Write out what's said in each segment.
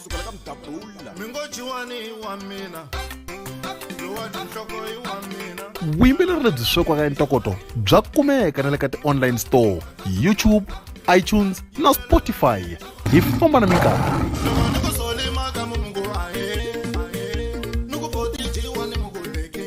kusukela ka mdabula mi ngo jiwani i wa mina lowani nhloko i wa mina vuyimbeleri lebyi swekiwaka entokoto bya kumeka na le ka ti-online store youtube itunes na spotify hi famba na minkarhi loko ni ku solimaka mu mungu ahe ahe ni ku foti jiwani mu ku leke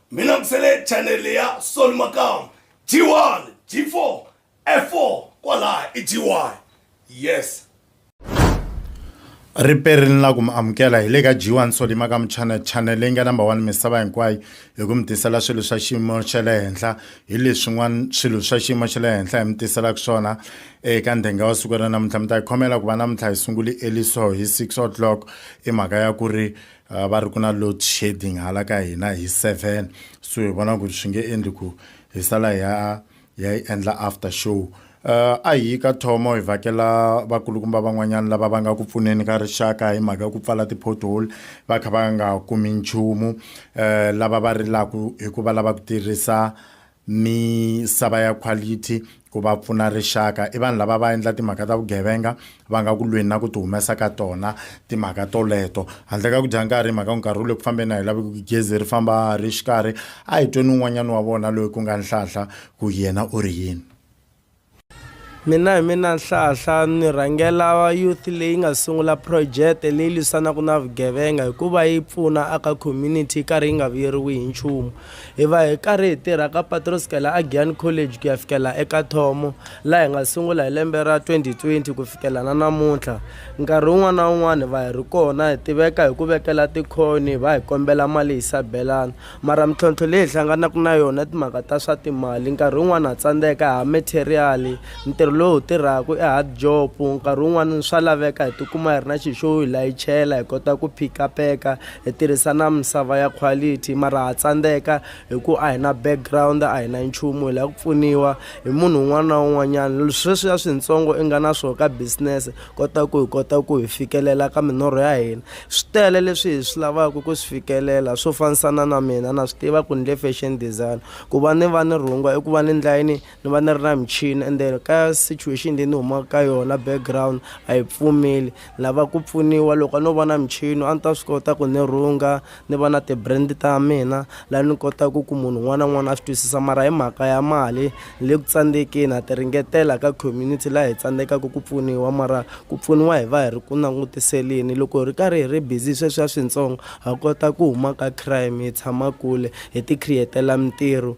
mina ngisele channel ya sol makam g1 g4 f4 kwalaha i g1 yes ripe ri ni la ku mi amukela hi le ka g1 sol makam channel channel leyi nga number one misava hinkwayo hi ku mi tisela swilo swa xiyimo xa le henhla hi leswin'wana swilo swa xiyimo xa le henhla hi mi tiselaka swona eka ndhenga wa siku ra namuntlha mi ta hi khomela ku va namuntlha hi sunguli eliso hi six o'clock i mhaka ya ku ri eh, uh, va ri ku na load shedding hala ka hina hi seven so hi vona ku swi nge endli ku hi sala ya ya yi endla after show uh, a hi ka thomo hi vhakela vakulukumba van'wanyana lava va nga ku pfuneni ka rixaka hi mhaka ya ku pfala ti-pothole va kha va nga kumi nchumu um uh, lava va rilaku hikuva lava ku tirhisa misava ya quality ku va pfuna rixaka i vanhu lava va endla timhaka ta vugevenga va nga ku lweni na ku ti humesa ka tona timhaka toleto handle ka ku dya nkarhi mhaka ku nkarhi wu le ku fambeni a hi lavi ku gezi ri famba ri xikarhi a hi tweni un'wanyana wa vona loyi ku nga nhlahla ku yena u ri yini Mina hi mina Nhlahla ni rhangela youth leyi nga sungula project leyi lwisanaka na vugevenga hikuva yi pfuna aka community yi karhi yi nga vuyeriwi hi nchumu hi va hi karhi hi tirha ka patu ro sukela a Giyani College ku ya fikela eka Thomo laha hi nga sungula hi lembe ra twenty twenty ku fikela na namuntlha nkarhi wun'wani na wun'wani hi va hi ri kona hi tiveka hi ku vekela tikhoni hi va hi kombela mali hi sabelana. mara mintlhontlho leyi hi hlanganaka na yona timhaka ta swa timali nkarhi wun'wani ha tsandzeka ha material ntirho lowu hi tirhaka i hard job nkarhi wun'wani swa laveka hi tikuma hi ri na xi xo hi layichela hi kota ku phikapeka hi tirhisa na misava ya quality mara ha tsandzeka hi ku a hi na background a hi na nchumu hi lava ku pfuniwa hi munhu un'wana na un'wanyana sweswiya swintsongo i nga na swona ka business kota ku hi kota ku hi fikelela ka minorho ya hina swi tele leswi hi swi lavaka ku swi fikelela swo fanisana na mina na swi tiva ku ni le fashion design ku va ni va ni rhungwa i ku va ni ndlayini ni va ni ri na michini ende ka situation leyi ni humaka ka yona background a yi pfumeli ni lava ku pfuniwa loko a no vona michini a ni ta swi kota ku ni rhunga ni va na ti-brand ta mina laha ni kotaka ku munhu un'wana na un'wana a swi twisisa mara hi mhaka ya mali ni le ku tsandzekeni ha ti ringetela ka community laha hi tsandzekaka ku pfuniwa mara ku pfuniwa hi va hi ri ku langutiseleni loko hi ri karhi hi ri busy sweswiya swintsongo ha kota ku huma ka crime hi tshama kule hi ti create-ela mintirho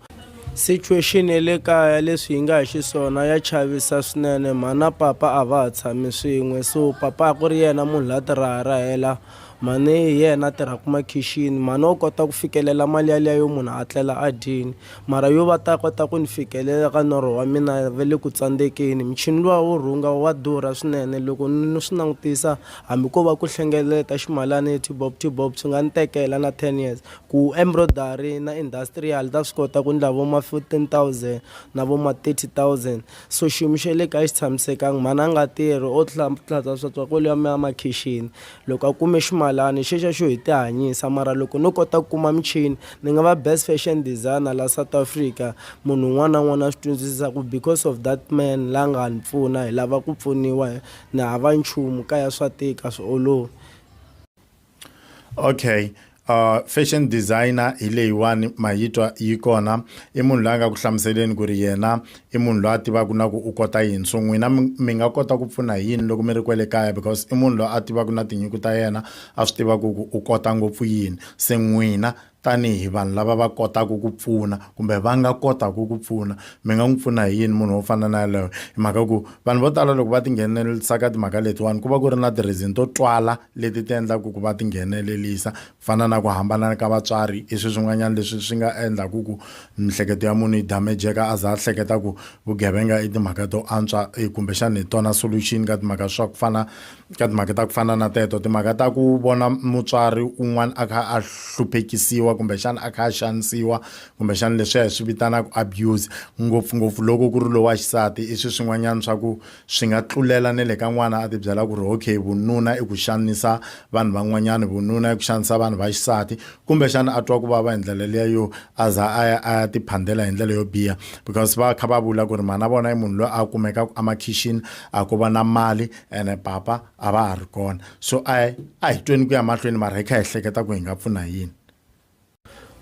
situation ya le kaya leswi hi nga hi xiswona ya chavisa swinene mhana papa a va ha tshami swin'we so papa a ku ri yena munhu la tirhara hela Mhani hi yena a tirhaka makhixini. Mhani wa kota ku fikelela mali yaliya yo munhu a tlela a dyile. Mara yo va ta kota ku ni fikelela ka norho wa mina va le ku tsandzekeni. Muchini luwa wo rhunga wa durha swinene. Loko ni swi langutisa hambi ko va ku hlengeleta ximalana hi tibob tibob swi nga ni tekela na ten years. Ku embroidery na industrial ta swi kota ku endla vo ma fifteen thousand na vo ma thirty thousand. So xiyimo xa le kaya xi tshamisekanga mhani a nga tirhi o tlhatlhatsa swatswa kwale ya ya makhixini loko a kume ximalani xexa xo hi tihanyisa mara loko no kota ku kuma michini ni nga va best fashion designer la South Africa munhu un'wana na un'wana a swi twisisa ku because of that man la nga ni pfuna hi lava ku pfuniwa ni hava nchumu kaya swa tika a swi olovi. okay uh fashion designer hi leyiwani ma yi twa yi kona i munhu loyi a nga ku hlamuseleni ku ri yena i munhu loyi a tivaka na ku u kota yini so n'wina mi nga kota ku pfuna hi yini loko mi ri kwele kaya because i munhu loyi a tivaka na tinyiko ta yena a swi tivaka ku u kota ngopfu yini se n'wina tanihi vanhu lava va kotaka ku pfuna kumbe va nga kotaka ku pfuna mi nga n'wi pfuna hi yini munhu wo fana na yaloyo hi mhaka ku vanhu vo tala loko va tinghenelelisa ka timhaka letiwani ku va ku ri na ti-reason to twala leti ti endlaka ku va tinghenelelisa ku fana na ku hambana ka vatswari i swi swin'wanyana leswi swi nga endlaka ku mihleketo ya munhu yi damejeka a za a hleketa ku vugevenga i timhaka to antswa kumbexana hi tona solution ka timhaka swa ku fana ka timhaka ta ku fana na teto timhaka ta ku vona mutswari un'wana a kha a hluphekisiwa kumbexana a kha a xanisiwa kumbexana leswiya hi swi vitanaka abuse ngopfungopfu loko ku ri lowa xisati i swi swin'wanyana swa ku swi nga tlulela na le ka n'wana a tibyela ku ri okay vununa i ku xanisa vanhu van'wanyana vununa i ku xanisa vanhu va xisati kumbexana a twa ku vava hi ndlela liya yo a za a ya a ya tiphandela hi ndlela yo biha because va kha va vula ku ri mhana vona i munhu loyi a kumekaka emakhixini a ko va na mali ene papa a va ha ri kona so a a hi tweni ku ya mahlweni mara hi kha hi hleketa ku hi nga pfuna yini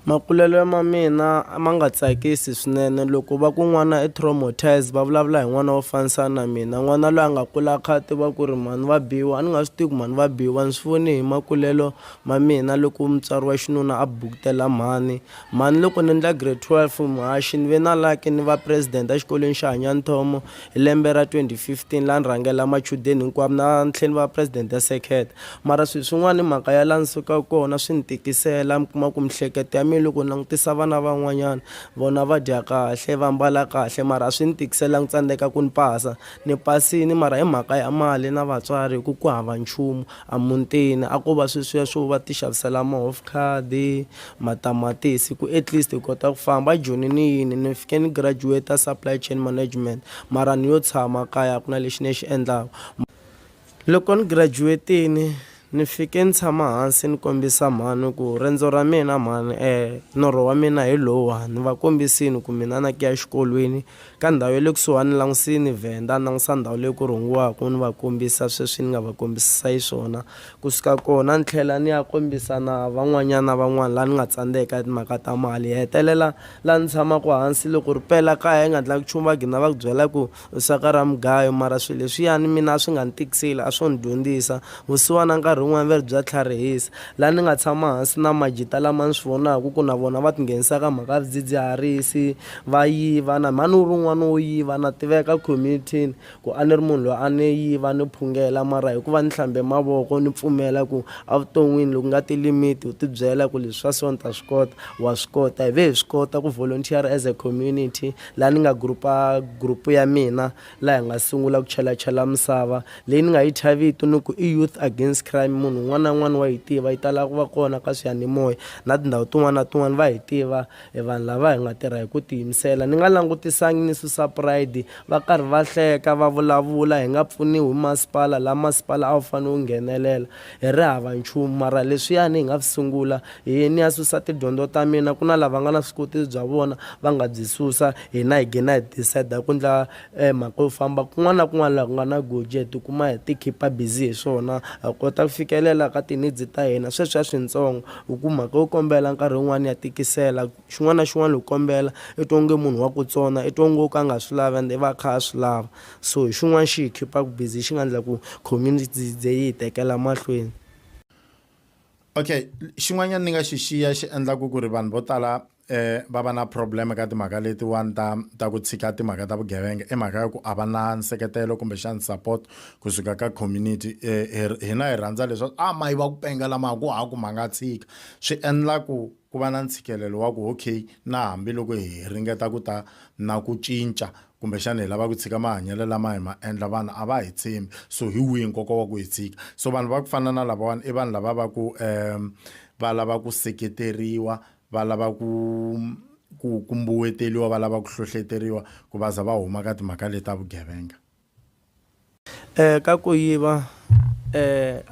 makulelo ya ma mina ma nga tsakisi swinene loko va ku n'wana i traumatise va vulavula hi n'wana wo fanisana na mina n'wana loyi a nga kula kha a tiva ku ri mhani va biwa a ni nga swi tivi ku mhani va biwa ni swi voni hi makulelo ma mina loko mutswari wa xinuna a bukutela mhani mhani loko ni endla grade twelve mhaxi ni ve na laki ni va president exikolweni xa hanyani thomo Hi lembe ra 2015 la ni rhangela machudeni hinkwavo na ntlheni va president ya circuit mara swilo swin'wana hi mhaka ya la ni sukaka kona swi ni tikisela mi kuma ku mihleketo ya mina loko ni langutisa vana van'wanyana vona va dya kahle va mbala kahle mara a swi ni tikisela ni tsandzeka ku ni pasa ni pasini mara hi mhaka ya mali na vatswari hi ku ku hava nchumu A mutini a ko va sweswiya swo va tixavisela mahovkhadi, matamatisi ku at least hi kota ku famba. A Joni ni yini ni fike ni graduate supply chain management mara ni yo tshama kaya a ku na lexi ni xi endlaka. Loko ni graduate-ini ni fike ni tshama hansi ni kombisa mhani ku riendzo ra mina mhani norho wa mina hi lowuwani ni va kombisini ku mina na ku ya exikolweni Ka ndhawu ya le kusuhani langusini Venda, nangusa ndhawu leyi ku rhungiwaka ni va kombisa sweswi ni nga va kombisisa xiswona. Ku suka kona ni tlhela ni ya kombisa na van'wanyana van'wana laha ni nga tsandzeka hi timhaka ta mali. Hi hetelela laha ni tshamaka hansi loko ri pela kaya hi nga ndlangi nchumu va gina va ku byela ku u saka ra mugayo mara swilo leswiyani mina a swi nga ni tikiseli a swo ni dyondzisa. Vusiwana nkarhi wun'wana va ri bya tlharihisa laha ni nga tshama hansi na majita lama ni swi vonaka ku na vona va tinghenisa ka mhaka ya swidzidziharisi va yiva na mhani u ri un'wana wo yiva na tiveka community-ni ku a ni ri munhu loyi a ni yiva ni phungela mara hikuva ni hlambe mavoko ni pfumela ku evuton'wini loko nga ti limit u tibyela ku leswi swa so ni ta swi kota wa swi kota hi ve hi swi kota ku volunteer as a community laha ni nga group-a group ya mina laha hi nga sungula ku chelachela misava leyi ni nga yi thya vito ni ku i youth against crime munhu un'wana na un'wana wa yi tiva yi tala ku va kona ka swiyanimoya na tindhawu tin'wana na tin'wana va hi tiva I vanhu lava hi nga tirha hi ku tiyimisela. Ni nga langutisangi ni susa pride. Va karhi va hleka, va vulavula, hi nga pfuniwi hi masipala, laha masipala a wu fanele wu nghenelela. Hi ri hava nchumu. Mara leswiyani hi nga swi sungula, hi ye ni ya susa tidyondzo ta mina, ku na lava nga na vuswikoti bya vona va nga byi susa, hina hi gina hi decide-a ku endla E mhaka yo famba kun'wana na kun'wana laha ku nga na goji hi tikuma hi ti khipa busy hi swona ha kota ku fikelela ka ti-needs ta hina sweswiya swintsongo hi ku mhaka yo kombela nkarhi wun'wani ya tikisela xin'wana na xin'wana loko u kombela i twa onge munhu wa ku tsona i twa ngo ka a nga swi lavi ende i va a kha a swi lava so hi xin'wana xi hi khipaku busy xi nga ndla ku yi tekela mahlweni. Okay xin'wanyani ni nga xi xiya xi endlaku ku ri vanhu vo tala va va na problem ka timhaka letiwani ta ta ku tshika timhaka ta vugevenga i mhaka ya ku a va na nseketelo kumbexani support kusuka ka community um hina hi rhandza leswaku a mayi va ku penga lama ku ha ku ma nga tshika swi endla ku ku va na ntshikelelo wa ku okay na hambiloko hi ringeta ku ta na ku cinca kumbexana hi lava ku tshika mahanyelo lama hi ma endla vanhu a va hi tshembi so hi wihi nkoka wa ku hi tshika so vanhu va ku fana na lavawani i vanhu lava va ku um va lava ku seketeriwa va lava ku ku ku mbuweteriwa va lava ku hlohleteriwa ku va za va huma ka timhaka leti ta vugevenga. Eka ku yiva,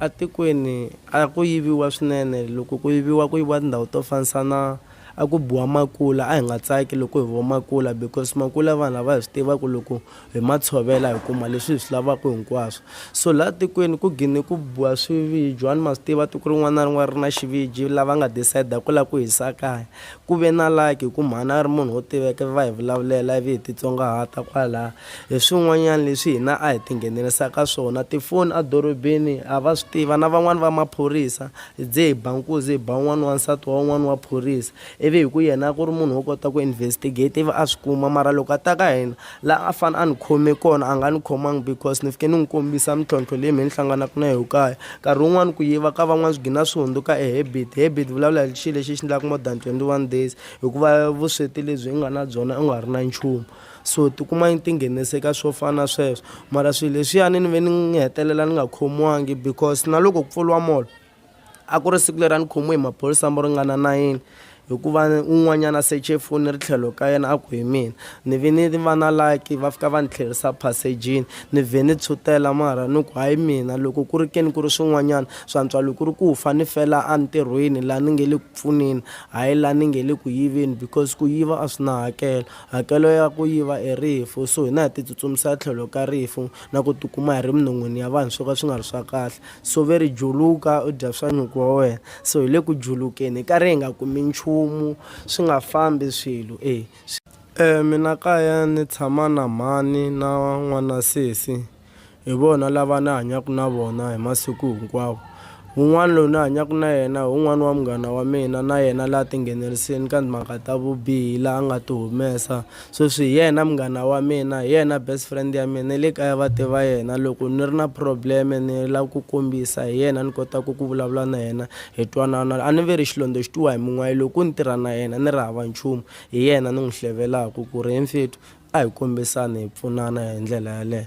etikweni a ku yiviwa swinene, loko ku yiviwa ku yiviwa tindhawu to fanisa na a ku biwa makula a hi nga tsaki loko hi yiviwa makula because makula vanhu a va hi swi tiva ku loko Hi ma tshovela hi kuma leswi hi swi lavaka hinkwaswo. So laha tikweni ku gine ku biwa swiviji wani ma swi tiva tiko rin'wana na rin'wana ri na xiviji lava nga decide ku lava ku hisa kaya ku ve na lucky hi ku mhani a ri munhu wo tiveka ivi va hi vulavulela ivi hi titsongahata kwalaya hi swin'wanyana leswi hina a hi tinghenelerisa ka swona tifoni a dorobeni ha va swi tiva na van'wani va maphorisa hi ze hi ba nkuzi hi ba un'wana wansati wa un'wana wa phorisa Ivi hi ku yena a ku ri munhu wo kota ku investigate ivi a swi kuma mara loko a ta ka hina la a fane a ni khome kona a nga ni khomangi because ni fike ni n'wi kombisa mintlhontlho leyi me ni hlanganaka na yoho kaya nkarhi wun'wani ku yiva ka van'wani swi gina swi hundzuka e habit habit vulavula hi xi lexi xi ndlaku more than twenty one days hikuva vusweti lebyi u nga na byona u nga ri na nchumu so tikuma yi tinghenise ka swo fana na sweswo mara swi leswiyani ni ve ni hetelela ni nga khomiwangi because na loko ku pfuriwa molo. A ku ri siku leri a ni khomiwe hi maphorisa mo ringana nayini hikuva un'wanyana a seche foni ri tlhelo ka yena a ku hi mina ni ve ni va na laki va fika va ni tlherisa phasejini ni vhe ni tshutela mara ni ku hayi mina loko ku ri ke ni ku ri swin'wanyana swantswa loko ku ri ku fa ni fela entirhweni laha ni nge le ku pfuneni hayi laha ni nge le ku yiveni because ku yiva a swi na hakelo hakelo ya ku yiva i rifu so hina hi titsutsumisela tlhelo ka rifu na ku tikuma hi ri minon'wini ya vanhu swo ka swi nga ri swa kahle. Sove ri juluka u dya swa nyuku wa wena so hi le ku julukeni hi karhi hi nga kumi nchumu swi nga fambi swilo e swi. E mina kaya ni tshama na mhani na n'wana sesi hi vona lava ni hanyaka na vona hi masiku hinkwawo wun'wana loyi ni hanyaka na yena hi wun'wana wa munghana wa mina na yena la tingheneleriseni ka timhaka ta vubihi la a nga ti humesa Sweswi hi yena munghana wa mina, hi yena best friend ya mina, ni le kaya va tiva yena. Loko ni ri na problem-e ni lava ku kombisa hi yena ni kotaka ku vulavula na yena hi twanana. A ni ve ri xilondza xi twiwa hi munwayi, loko ni tirha na yena ni ri hava nchumu, hi yena ni n'wi hlevelaka ku ri he mfethu a hi kombisani hi pfunana hi ndlela yaleyo.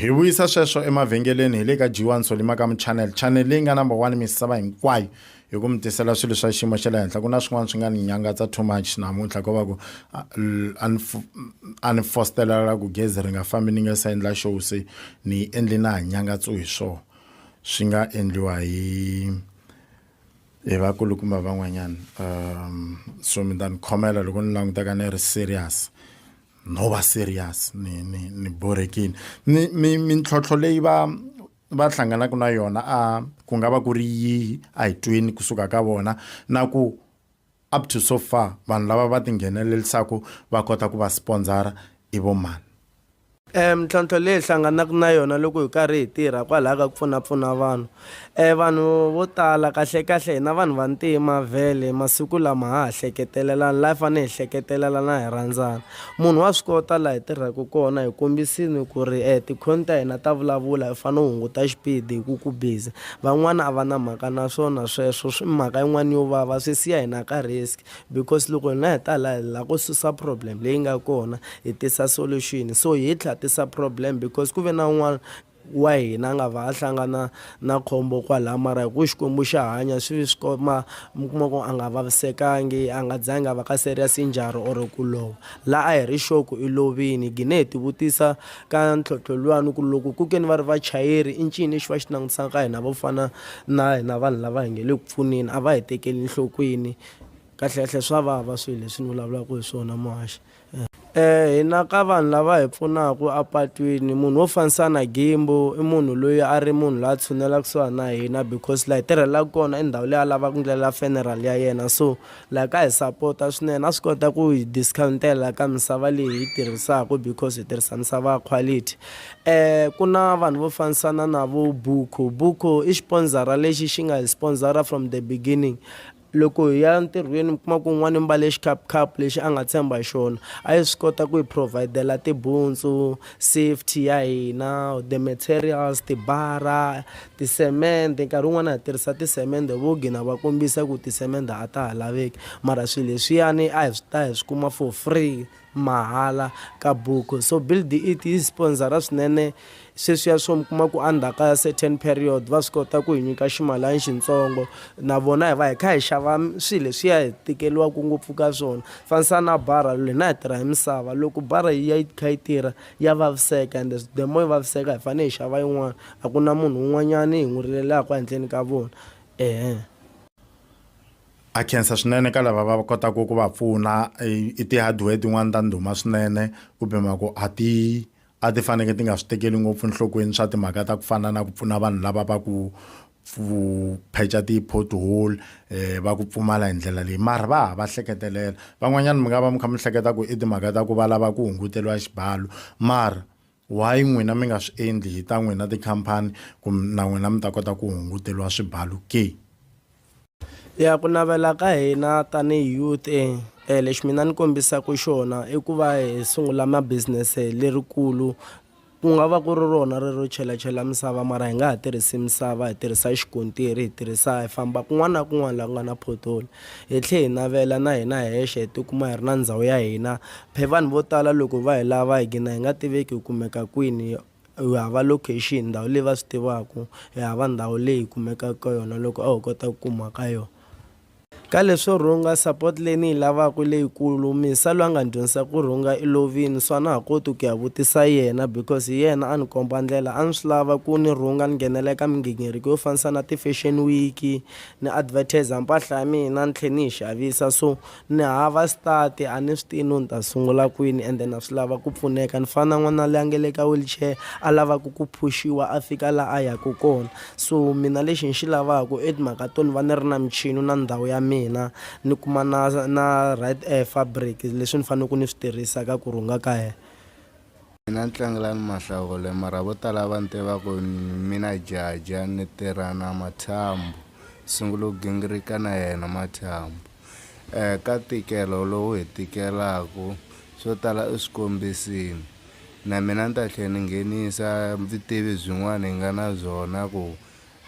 hi vuyisa sweswo emavhengeleni hi le ka g1 solimakamu channel channel leyi nga number one misava hinkwayo hi ku mi tisela swilo swa xiyimo xa le henhla ku na swin'wana swi nga ni nyangatsa too much namuntlha ko va ku a ni fostelela ku gezi ri nga fambi ni nga se endla show se ni yi endli na ha nyangatso hi swona swi nga endliwa hi hi vakulukumba van'wanyana um so mi ta ni khomela loko ni langutaka ni ri serious no va serious ni ni ni borekile ni mi mintlhontlho leyi va va hlanganaka na yona a ku nga va ku ri yihi a hi twini kusuka ka vona na ku up to so far vanhu lava va tinghenelelisaka va kota ku va sponsora i vo mani um mintlhontlho leyi hlanganaka na yona loko hi karhi hi tirha kwalaho ka ku pfunapfuna vanhu E vanhu vo tala kahlekahle hina vanhu vantima vhele masiku lama ha ha hleketelelani laha hi fanele hi hleketelelana hi rhandzana munhu wa swi kota laha hi tirhaka kona hi kombisini ku ri e tikhoni ta hina ta vulavula u fanele u hunguta xipidi hi ku ku busy van'wana a va na mhaka na swona sweswo swi mhaka yin'wana yo vava swi siya hina ka risk because loko hina hi ta laha hi lava ku susa problem leyi nga kona hi tisa solution so hi tlha tisa problem because ku ve na un'wana wa hina a nga va a hlangana na khombo kwalaya mara hi ku Xikwembu xa hanya swi swi ko ma mi kuma ku a nga vavisekangi a nga zangi a va ka serious njhari or ku lova la a hi ri sure ku i lovini gine hi tivutisa ka ntlhontlho luwani ku loko ku ke ni va ri vachayeri i ncini lexi va xi langutisaka ka hina vo fana na hina vanhu lava hi nge le ku pfuneni a va hi tekeli nhlokweni kahlekahle swa vava swilo leswi ni vulavulaka hi swona muhaxi Hi na ka vanhu lava hi pfunaka apatwini munhu wo fanisa na Gimbo i munhu loyi a ri munhu la tshunela kusuhani na hina because la hi tirhelaku kona i ndhawu leyi a lava ku ndlela funeral ya yena so la ka hi sapota swinene a swi kota ku hi discount-ela ka misava leyi hi yi tirhisaku because hi tirhisa misava ya quality ku na vanhu vo fambisana na vo Buku, Buku i xipondzara lexi xi nga hi swipondzara from the beginning. Loko hi ya ntirhweni mi kuma ku un'wana i mbale xikhapukhaphu lexi a nga tshemba hi xona a yi swi kota ku hi provide-la tibuntsu safety ya hina the materials tibara tisemende nkarhi wun'wana ha tirhisa tisemende vo gina va kombisa ku tisemende a ta ha laveki mara swilo leswiyani a hi swi ta hi swi kuma for free mahala ka buku so build it yi sponsor-a swinene sweswiya swo mi kuma ku endzhaku ka certain period va swi kota ku hi nyika ximalana xintsongo na vona hi va hi kha hi xava swilo leswiya hi tikeriwaka ngopfu ka swona fanisa na bara hina hi tirha hi misava loko bara yi ya yi kha yi tirha ya vaviseka ende the more yi vaviseka hi fanele hi xava yin'wana a ku na munhu un'wanyani hi n'wi rilelaku handleni ka vona . A khensa swinene ka lava va kotaka ku va pfuna i ti-hardware tin'wani ta ndhuma swinene kumbe ma ku a ti a ti faneke ti nga swi tekeli ngopfu enhlokweni swa timhaka ta ku fana na ku pfuna vanhu lava va ku pheca ti-pothole va ku pfumala hi ndlela leyi mara va ha va hleketelela van'wanyana mi nga va mi kha mi hleketa ku i timhaka ta ku va lava ku hunguteriwa xibalo mara. Why n'wina mi nga swi endli hi ta n'wina tikhampani ku na n'wina mi ta kota ku hunguteriwa swibalu ke? Ya ku navela ka hina tanihi youth e lexi mina ni kombisaka xona i ku va hi sungula ma business lerikulu ku nga va ku ri rona ri ro chelachela misava mara hi nga ha tirhisi misava hi tirhisa xikontiri hi tirhisa hi famba kun'wana na kun'wana laha ku nga na pothole hi tlhela hi navela na hina hexe hi tikuma hi ri na ndhawu ya hina Phe vanhu vo tala loko va hi lava hi gina hi nga tiveki hi kumeka kwini, hi hava location, ndhawu leyi va swi tivaku, hi hava ndhawu leyi hi kumekaka ka yona loko a ho kota ku kuma ka yona. Ka leswo rhunga, support leyi ni yi lavaka i leyikulu. Misa loyi a nga ni dyondzisa ku rhunga i lovini so a na ha koti ku ya vutisa yena because hi yena a ni komba ndlela. A ni swi lava ku ni rhunga ni nghenela eka migingiriko yo fanisa na ti-fashion week ni advertiser mpahla ya mina ni tlhe ni yi xavisa so. Ni hava sitati, a ni swi tivi no ni ta sungula kwini ende na swi lava ku pfuneka. Ni fana na n'wana loyi a nga le ka wheelchair, a lavaka ku phush-iwa a fika laha a yaka kona. So mina lexi ni xi lavaka i timhaka to ni va ni ri na michini na ndhawu ya mina, ni kuma na na right fabric leswi ni faneleke ni swi tirhisa ka ku rhunga ka yena. Mina ni tlangela ni mahlawule mara vo tala va ni tiva ku mina jaja ni tirha na mathambo sungula ku gingirika na yena mathambo um ka ntikelo lowu hi tikelaku swo tala u swi kombisini na mina ni ta tlhe ni nghenisa vutivi byin'wana hi nga na byona ku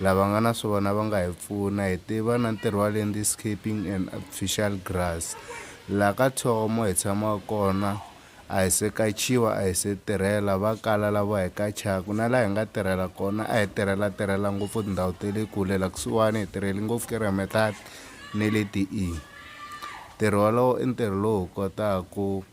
lava nga na swona va nga hi pfuna hi tiva na ntirho wa landscaping and artificial grass la ka thomo hi tshama kona a hi se kachiwa, a hi se tirhela va kala lavo hi kachaku, na la hi nga tirhela kona a hi tirhela tirhela ngopfu tindhawu te le kule, la kusuwani hi tirheli ngopfu Keremetlad ni le Tiing. Ntirho walowo i ntirho lowu hi kotaku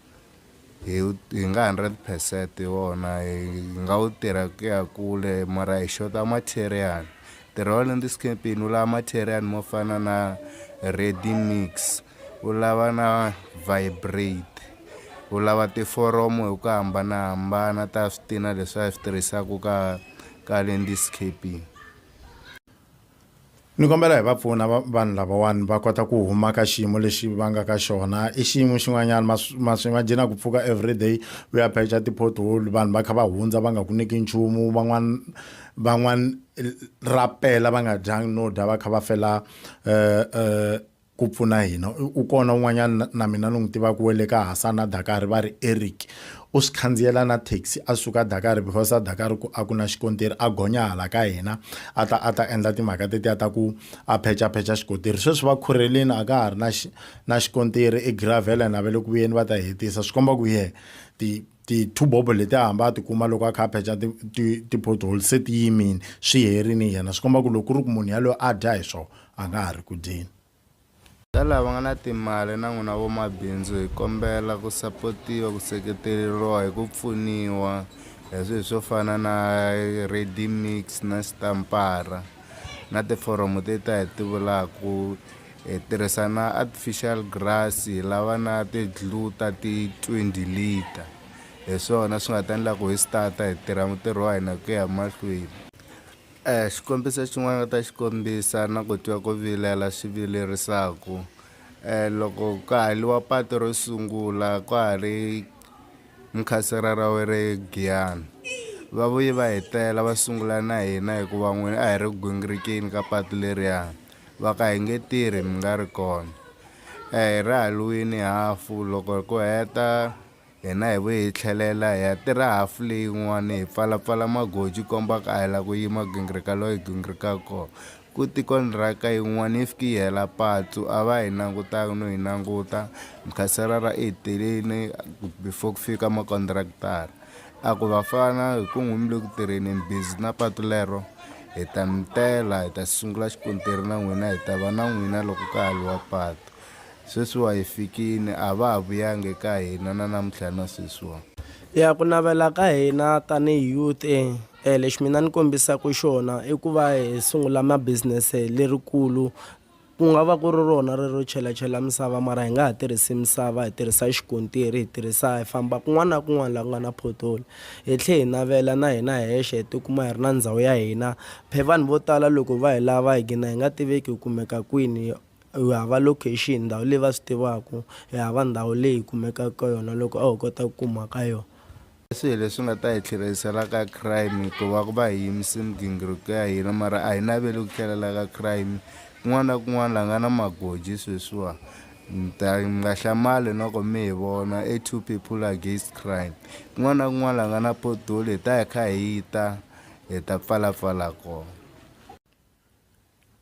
hi hi nga hundred percent hi wona hi nga wu tirha ku ya kule mara hi xota material, ntirho wa le Ndiskeppin wu lava material mo fana na ready mix, U lava na vibrate. U lava tiforomo hi ku hambanahambana ta switina leswi a hi swi tirhisaka ka ka landscaping. Ni kombela hi va pfuna vanhu lavawani va kota ku huma ka xiyimo lexi va nga ka xona i xiyimo xin'wanyana ma ma swi nga jina ku pfuka everyday u ya pheca ti-pothole vanhu va kha va hundza va nga ku nyiki nchumu van'wana van'wana ra pela va nga dyanga no dya va kha va fela . ku pfuna hina. U kona un'wanyana na mina ni n'wi tivaka wa le ka Hasana Dakar va ri Eric u swi khandziyela na taxi a suka Dakar because a Dakar ku a ku na xikontiri a gonya hala ka hina a ta a ta endla timhaka tetiya ta ku a phechaphecha xikontiri sweswi va khurhelini a ka ha ri na na xikontiri i gravel and a va le ku vuyeni va ta hetisa swi komba ku yeh ti ti-two bobo leti a hamba a tikuma loko a kha a phecha ti-pothole se ti yimile swi herini yena swi komba ku loko ku ri ku munhu yaloyo a dya hi swona a nga ha ri ku dyeni ta lava nga na timali na n'wina vomabindzu hi kombela ku sapotiwa ku seketeleriwa hi ku pfuniwa hi swilo swo fana na ready mix na xitampara na tiforomo teti ta hi ti vulaka Hi tirhisa na artificial grass hi lava na ti-glue ta ti-twenty litre hi swona swi nga ta endla ku hi start-a hi tirha mutirhi wa hina ku ya mahlweni. Xikombiso xin'wana ni nga ta xi kombisa na ku twa ku vilela swi vilerisaku loko ka ha liwa patu ro sungula ka ha ri mukhasela ra we re giyani va vuye va hi tela va sungula na hina hikuva n'wina a hi ri gwingirikeni ka patu leriya. Va ka hi nge tirhi mi nga ri kona. A hi ri halwini hafu loko hi ku heta hina hi vuye hi tlhelela hi ya tirha hafu leyin'wana hi pfalapfala magoji ku komba ku a hi lava ku yima gingirika loyi hi gingirikaka kona. Kute kondiraka yin'wana yi fike yi hela patsu a va hi langutanga no hi languta, Mkhaserara i hi telile before ku fika makondirakitara. A ku vafana hi ku n'wi mi le ku tirheni ni busy na patu lero hi ta mi tela hi ta sungula xikontiri na n'wina hi ta va na n'wina loko ka haliwa patu sweswiwa hi fikini a va ha vuyangi eka hina na namuntlha na sweswiwa ya ku navela ka hina tanihi youth e lexi mina ni kombisaka xona i ku va hi sungula ma business lerikulu Ku nga va ku ri rona rero chelachela misava mara hi nga ha tirhisi misava hi tirhisa xikontiri hi tirhisa hi famba kun'wana na kun'wana laha ku nga na pothole hi tlhe hi navela na hina hexe hi tikuma hi ri na ndhawu ya hina phe vanhu vo tala loko va hi lava hi gina hi nga tiveki hi kumeka kwini hi hava location ndhawu leyi va swi tivaku hi hava ndhawu leyi hi kumekaka ka yona loko a ho kota ku kuma ka yona. I swihi leswi nga ta hi tlherisela ka crime hikuva ku va hi yimise migingiriko ya hina mara a hi naveli ku tlhelela ka crime kun'wana na kun'wana la nga na magoji sweswiwa mi ta mi nga hlamali noko mi hi vona a two people against crime kun'wana na kun'wana la nga na potoli hi ta hi kha hi ta hi ta pfalapfala kona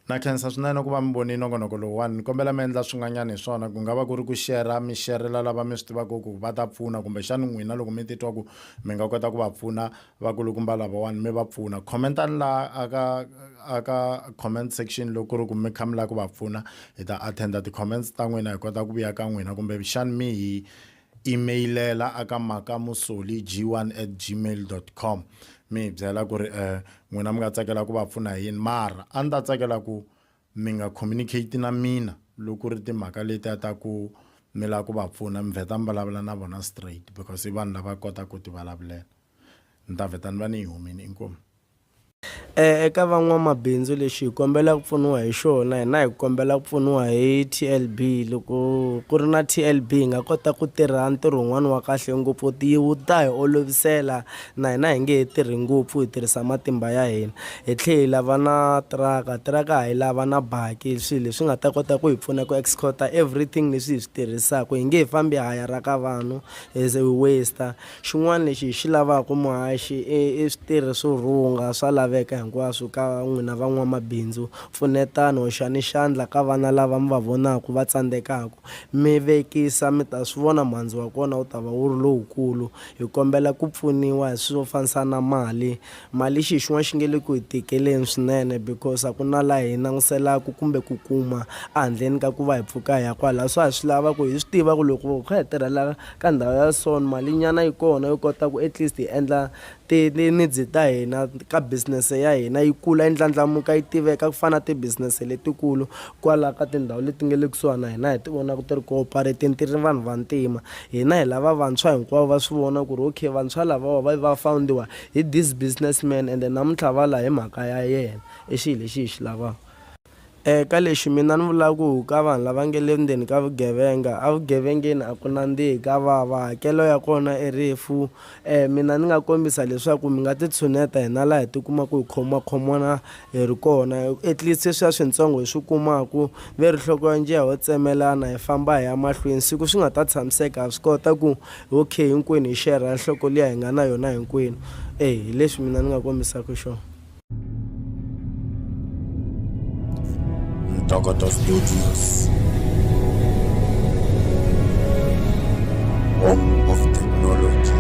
Na khensa swinene ku va mi vonile nongonoko lowuwani. Ni kombela mi endla swin'wanyana hi swona. Ku nga va ku ri ku share-ra, mi share-rela lava mi swi tivaka ku va ta pfuna. Kumbexana n'wina loko mi titwa ku mi nga kota ku va pfuna vakulukumba lavawani, mi va pfuna. Comment-ani laha a ka a ka comment section loko ku ri ku mi kha mi lava ku va pfuna. Hi ta attend-a ti-comments ta n'wina, hi kota ku vuya ka n'wina. Kumbexana mi hi Imeyilera a ka makamusoli g1 at gmail dot com mi hi byela ku ri um n'wina mi nga tsakela ku va pfuna hi yini mara a ni ta tsakela ku mi nga communicate na mina loko ku ri timhaka letiya ta ku mi lava ku va pfuna mi vheta mi vulavula na vona straight because i vanhu lava kotaka ku tivulavulela ni ta vheta ni va ni yi humile inkomu. Eka van'wamabindzu lexi hi kombela ku pfuniwa hi xona hina hi kombela ku pfuniwa hi T_L_B loko ku ri na T_L_B hi nga kota ku tirha ntirho wun'wani wa kahle ngopfu wu ta hi olovisela na hina hi nge he tirhi ngopfu hi tirhisa matimba ya hina hi tlhe hi lava na tiraka tiraka ha yi lava na baki swi leswi nga ta kota ku hi pfuna ku escort-a everything leswi hi swi tirhisaku hi nge he fambi hi hayaraka vanhu as we waste-a. Xin'wana lexi hi xi lavaka muhaxi i i switirhi swo rhunga swa laveka hinkwaswo ka n'wina van'wamabindzu. Pfunetani, hoxani xandla ka vana lava mi va vonaka va tsandzekaka. Mi vekisa, mi ta swi vona mhandzu wa kona wu ta va wu ri lowukulu. Hi kombela ku pfuniwa hi swilo swo fanisa na mali, Mali xi hi xin'wana xi nge le ku hi tikeleni swinene because a ku na laha hi languselaka kumbe ku kuma a handleni ka ku va hi pfuka hi ya kwalaho so hi swi lava ku hi swi tiva ku loko hi kha hi tirhela ka ndhawu ya so ni malinyana yi kona yo kota ku at least hi endla tinidzi ta hina ka business ya hina yi kula yi ndlandlamuka yi tiveka ku fana na ti-business letikulu kwala ka tindhawu leti nga le kusuhani na hina hi ti vonaka ti ri cooperat-ini ti ri vanhu vantima hina hi lava vantshwa hinkwavo va swi vona ku ri okay vantshwa lavawa va va found-iwa. Hi this business man ende namuntlha va la hi mhaka ya yena i xilo lexi hi xi lavaka. E ka lexi mina ni vulaka ku ka vanhu lava nge le ndzeni ka vugevenga evugevengeni a ku nandzihi ka vava hakelo ya kona i rifu e mina ni nga kombisa leswaku mi nga titshuneta hina laha hi tikuma ku hi khoma khomana hi ri kona at least sweswiya swintsongo hi swi kumaku ve rihloko ya njiya ho tsemelana hi famba hi ya mahlweni siku swi nga ta tshamiseka ha swi kota ku Okay, hinkwenu hi xerha nhloko liya hi nga na yona hinkwenu. E, hi leswi mina ni nga kombisaka xona. Ntokoto Studios. Home of Technology.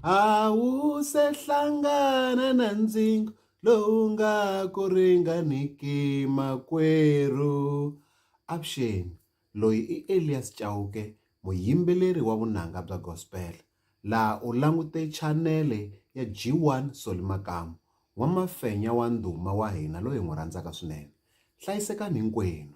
Awusehlangana na ndzingo Lowu nga ku ringaniki makwerhu. Avuxeni, loyi i Elias Chauke muyimbeleri wa vunanga bya gospel laha u langute chanele ya G one Solly Makamu n'wamafenya wa ndhuma wa hina loyi hi n'wi rhandzaka swinene hlayisekani hinkwenu.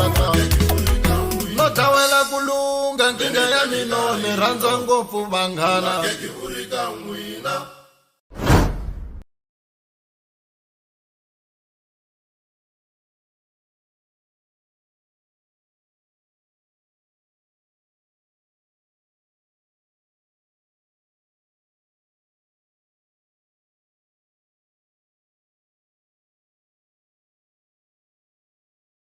no dawela ku lungha nkingha ya mino ni rhandza ngopfu vanghana